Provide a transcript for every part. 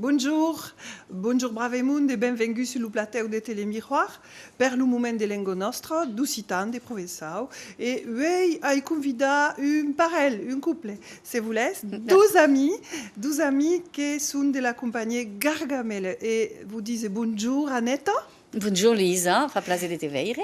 Bonjour! Bonjour Bravemond e benvenguts sul lo platèu de Telemiroir per lo moment de lengua nòstra, d'occitan, de provençau e uèi ai convidat un parelh, un couple, se volètz, dos amis, dos amis que son de la companhiá Gargamèla e vos dise bonjour Aneta. Bonjour Luisa, fa plaser de te veire.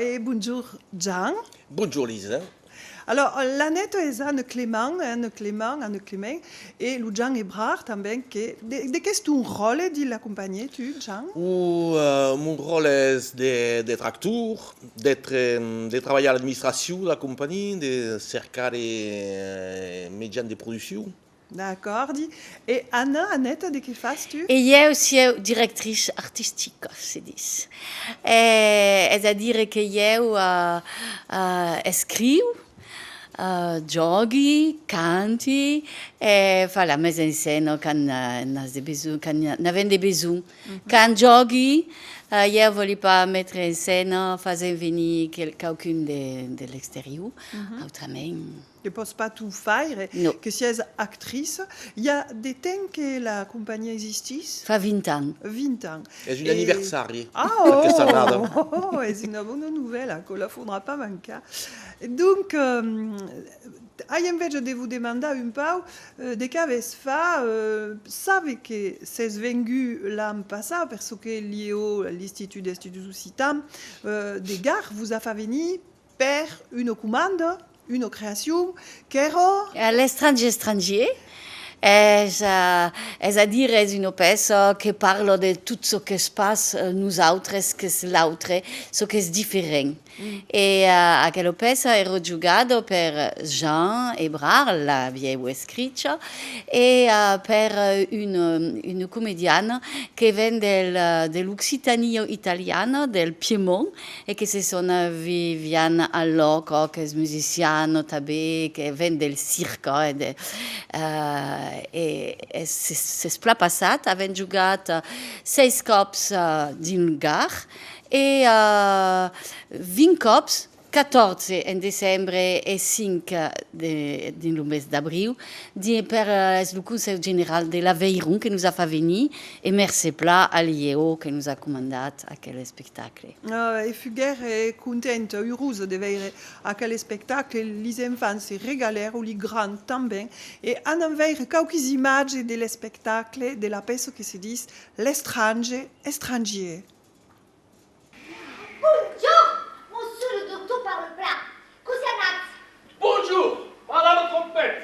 E bonjour Jan. Bonjour Luisa. Alòr, l'Anèto es a Neuclement, eh, Neuclement, a Neuclement, e lo Jan Ebrard tanben que, de, de qu'es ton ròle dins la companhié, tu, Jan? O, mon ròle es de, d'ètre actor, d'ètre, de trabalhar a l'administracion de la companhié, de cercar de, eh, mejans de produccion. D'acòrdi. E Anna, Aneta, de qué fas tu? E ieu sieu directrice artistica, se dis. Es a dire que ieu escriu, jògui, canti e fa la mise en scène quand n'as de besonh, quand n'avèm de besonh. Quand jògui, ieu vòli pas metre en scène fasent venir quauqu'un de l'exterior, autrament Que pòs pas tu faire, que sies actrice. I a de temps que la companhiá existís? Fa 20 ans. 20 ans. Es un anniversari, aquesta errada. Ah oh! Oh! Es una bona novèla, aquò la faudrà pas mancar. Donc, ai enveja de vos demandar un pauc de qu'avètz fach. Save que s'es vengut l'an passat, per çò que lieu a l'Institut d'Estudis Occitans de Gard vos a fach venir. Per una comanda, una creacion, qu'èra. A l'estrangier estrangier, es a dire es una pèça que parla de tot çò qu'es pas nosautres, qu'es l'autre, çò qu'es diferent. E aquela pèça èra jogada per Jean Ebrard, l'avieu escricha, e per una comediana que ven de l'Occitània italiana, del Piemont, e que se son vivian al lòc quauques musicians notabels que ven del circ e s'es plan passat avent jogat seis còps dins lo gar e 20 còps, 14 en decembre e 5 dins lo mes d'abriu, per es lo Conselh General de l'Aveiron que nos a fat venir e mercé plan a l'IEO que nos a comandat aquel espectacle. espectacle. E fuguère contenta, urosa de veire aquel espectacle, lis enfants se regalèron, li grands tanben, e anam veire quauquis imatges de l'espectacle de la pèça que se dis L'estrange estrangier. Bonjorn, monsieur le doctor parle plat, cosi anatz? Bonjour, parla lo trompet!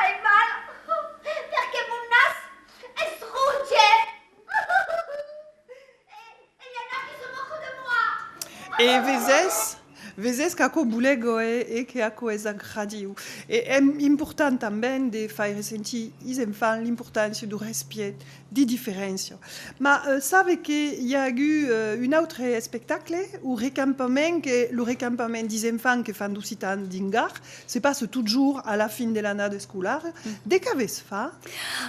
Ai mal, perque mon nas es rouge. E i en a qui se moque de moi. E vesés? Vesés qu'aquò boulèc òe e que aquò es agradiu. E èm important tanben de faire sentir is enfants l'importància du respièt de diferéncia. Ma save que i a agut un autre espectacle, o recampament que lo recampament dis enfants que fan 12 ans dins Gard se passe totjorn a la fin de l'annada escolara. De qu'avètz fa?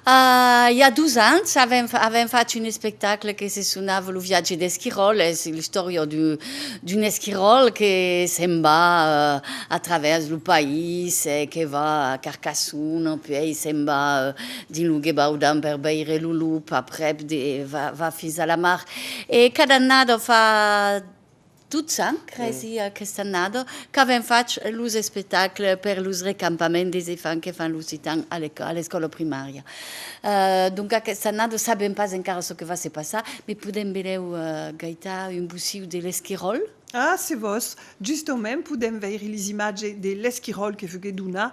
Ah, i a dos ans avèm avèm fach un espectacle que se sonava Lo viatge d'Esquiròl, es l'istòria d'un esquiròl que se'n va a travèrs lo país, que va a Carcassona, puèi se'n va Dins lo gebau d'an per veire lo lop aprèp de va fins a la mar e cada annada fa 12 ans cresi aquesta annada qu'avèm fach los espectacles per los recampaments des efants que fan lo sitan a l'escòla primària donc aquesta annada sabèm pas encara çò que va se passar me podèm benlèu gaitar un bociu de l'esquiròl. Ah se vos, justament podèm veire les imatges de l'esquiròl que foguèt donat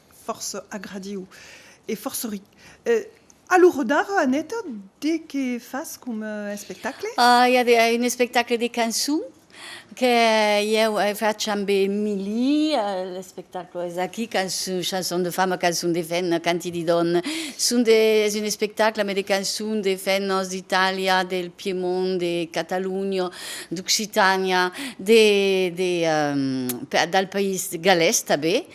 fòrça agradiu e fòrça ric. A lo rodar, Aneta, de qué fas coma espectacle? I a un espectacle de cançon que ieu fach amb Emily, l'espectacle es aquí, Chanson de femme, cançon de femna, canti de dòna. Es un espectacle mai de cançon de femnas d'Itàlia, del Piemont, de Catalonha, d'Occitània, del país galés tanben.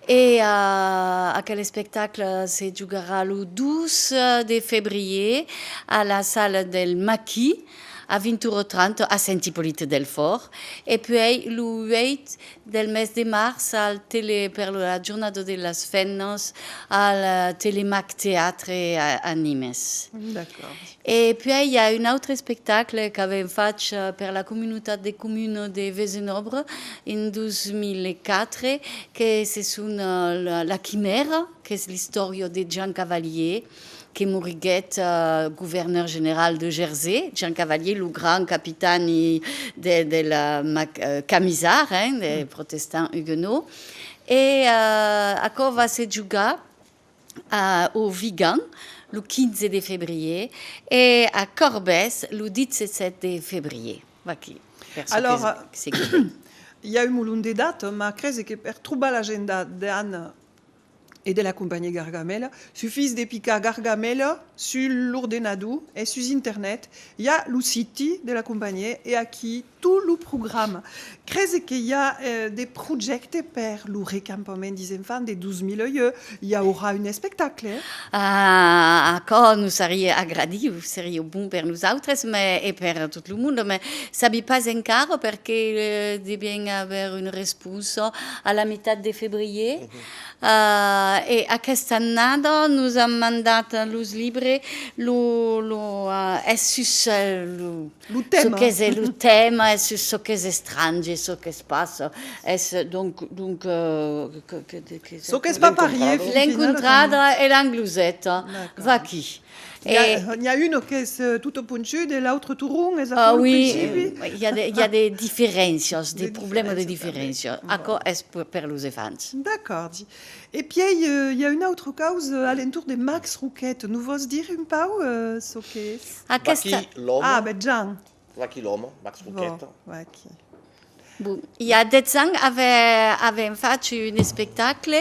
E aquel espectacle se jogarà lo 12 de febrier a la sala del Maquis a 20 ora 30 a Sent Ipolit Delfòrt e puèi lo 8 del mes de març al Tele per la jornada de las femnas al Telemac Teatre a Nimes. E puèi i a un autre espectacle qu'avèm fach per la comunutat de comuna de Vesenòbre en 2004 que se son La Quimèra, qu'es l'istòria de Jean Cavalier que moriguèt governèur general de Jersey, Jean Cavalier lo grand capitan de la Camisard, hein, des protestants huguenots. E aquò va se jogar a au Vigan lo 15 de febrier e a Corbès lo 17 de febrier. Vaquí, per çò que se guide. I a un molon de data, mas crese que per trobar l'agenda d'Ann e de la companhiá Gargamèla, sufís de picar Gargamèla sul l'ordenador e sus internet i a lo siti de la companhiá e aquí tot lo programa. Crese que i a de projècte per lo recampament des enfants de 2008, i aurà un espectacle? Ah, aquò nos serie agradiu, serie bon per nosautres mais e per tot lo monde, mais sabi pas encara perque devièn aver una responsa a la mitat de febrier. Ah, e aquesta annada nos an mandat los libres lo, lo, es sus lo. Lo tèma. Çò qu'es e lo tèma e sus çò qu'es estrange e çò qu'es pas es donc donc que Çò qu'es pas parier fin finala. L'encontrada e l'angloseta. Vaquí. E N'i a un qu'es tot ponchut e l'autre tot rond es aquò lo principi? Ah oui, i a de diferéncias, de problèmas de diferéncias. Aquò es per los enfants. D'acòrdi. E pièi i a un autre caus a l'entorn de Max Roquette. Nos vòs dire un pau çò qu'es? Aquesta. Vaquí l'òme. Ah, ben Jean. Vaquí l'òme, Max Roquette. Vò, vaquí. Bon, i a 10 ans avèm fach un espectacle,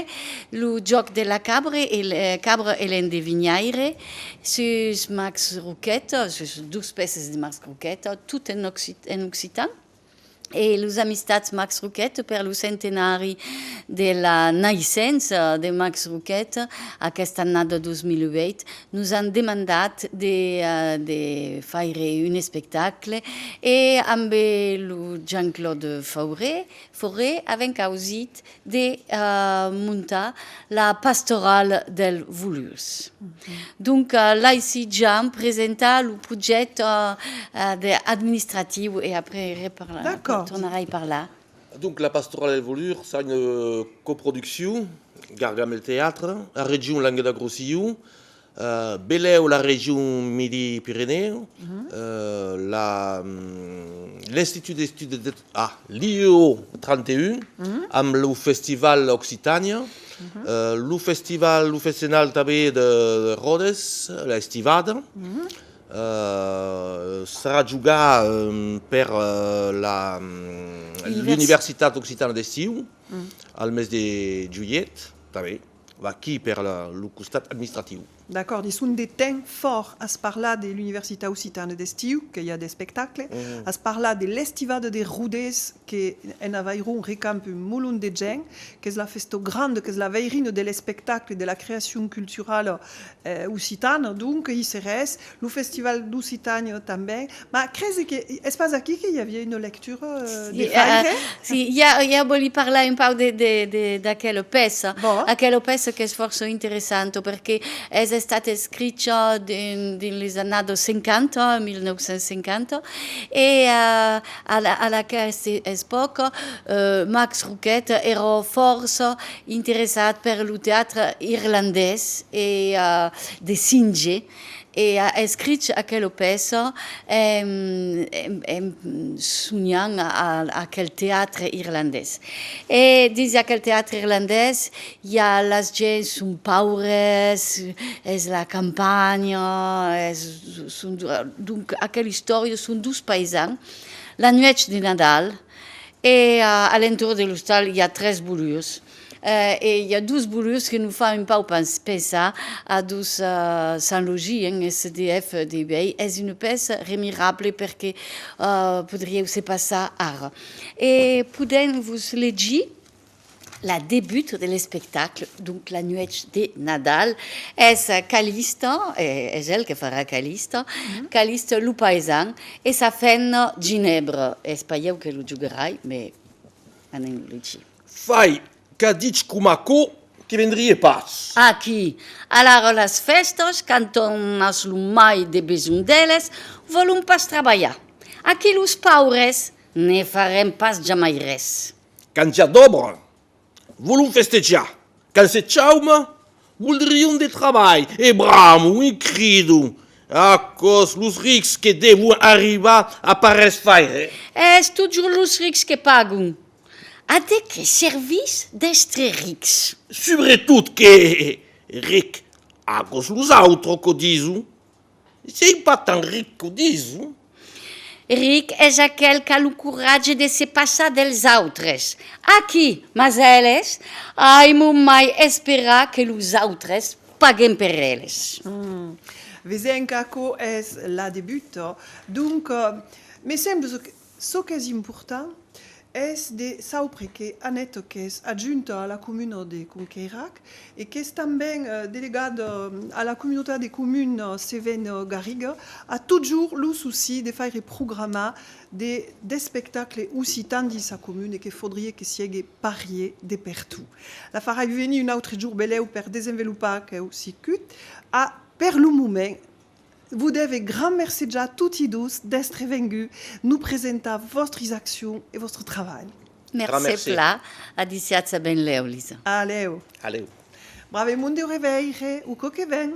Lo jòc de la cabre e l'endevinhaire, sus Max Roquette, sus dus pèces de Max Roquette, tot en occitan. e los Amistats Max Roquette per lo centenari de la naissença de Max Roquette aquesta annada 2008 nos an demandat de de faire un espectacle e ambe lo Jean-Claude Fauré Fauré avèm causit de montar la pastorala del Volurs. Donc, laissi Jean presentar lo projèct administratiu e après tornarai parlar. Donc, la pastorala del Volurs a una coproduccion, Gargamel Teatre, la region Languedoc-Rossillon, Velèu la region Midi-Pirenèu, la l'Institut d'Estudes de, ah, l'IEO 31, amb lo festival Occitània, lo festival, lo festenal tanben de Ròdes, la Estivada, serà jogar per la l'Universitat Occitana d'Estiu, al mes de julhet, tanben. Vaquí per lo costat administratiu. D'acòrd, e son de temps fòrt as parlat de l'universitat occitane d'estiu que i a d'espectacle, as parlat de l'estivada de Rodés que en avairon recamp un molon de gent, qu'es la festa granda, qu'es la veirina de l'espectacle, de la creacion culturala occitana, donc i seres Lo festival d'Occitània tanben. Ma cresi que es pas aquí que i aviá una lectura de Freire? Si, si, ja vòli parlar un pauc d'aquela pèça. Bon. Aquela pèça qu'es fòrça interessanta perque es estat escricha dins las annadas 50, 1950, e a aquesta espòca Max Roquet èra fòrça interessat per lo teatre irlandés e de Synge. E a escrich aquelo pèça en sonhant aquel teatre irlandés. E dins aquel teatre irlandés i a las gents son paures, es la campanha, son donc aquel istòria son dos paisans la nuèch de Nadal e a l'entorn de l'ostal i a tres bolurs. E i a dus bolurs que nos fa un pauc pensar a dos Saint-Logi, un SDF de uèi, es una pèça remirable per que podrieu se passar ara. E podèm vos legir la debut de l'espectacle, donc la nuèch de Nadal, es Calista, es el que farà Calista, Calista lo paisan e sa femna Ginèbra, es pas ieu que lo jogarai, mai anem lo legir. Fai qu'a dich com aquò que vendrie pas. Aquí. Alara las fèstas, quand òm as lo mai de besonh d'eles, vòlon pas trabalhar. Aquí los paures ne farem pas jamai res. Quand i a d'òbra, vòlon festejar. Quand se chaume, voldrion de trabalh. E bramo, un crido! Aquò's los rics que devon arribar a pas res faire. Es totjorn los rics que pagon. A de qué servís d'èstre rics? Subretot que, ric, agos los autres qu'o dison. Sei pas tant ric qu'o dison. Ric es aquel qu'a lo coratge de se passar dels autres. Aquí, mas eles, ai mon mai esperar que los autres paguen per eles. Vesenc, aquo es la de buta. Donc, me semble Çò qu'es important es de saupre que Annette qu'es adjunta a la comuna de Conqueirac e qu'es tanben delegada a la comunitat de comuna Cévennes-Garriga a totjorn lo souci de faire programar de d'espectacles occitans dins sa comuna e que faudrie que siegue parier de pertot. La farai venir un autre jorn belèu per desenvelopar aqueu circuit a per lo moment Vos dève gran mercejar toti dos d'èstre vengut nos presentar vòstris accions e vòstre travalh. Gran Mercé mercé. pla adiciatz a benlèu, Lisa. Alèu. Alèu. Brave mon Deu reveire o cò que ven.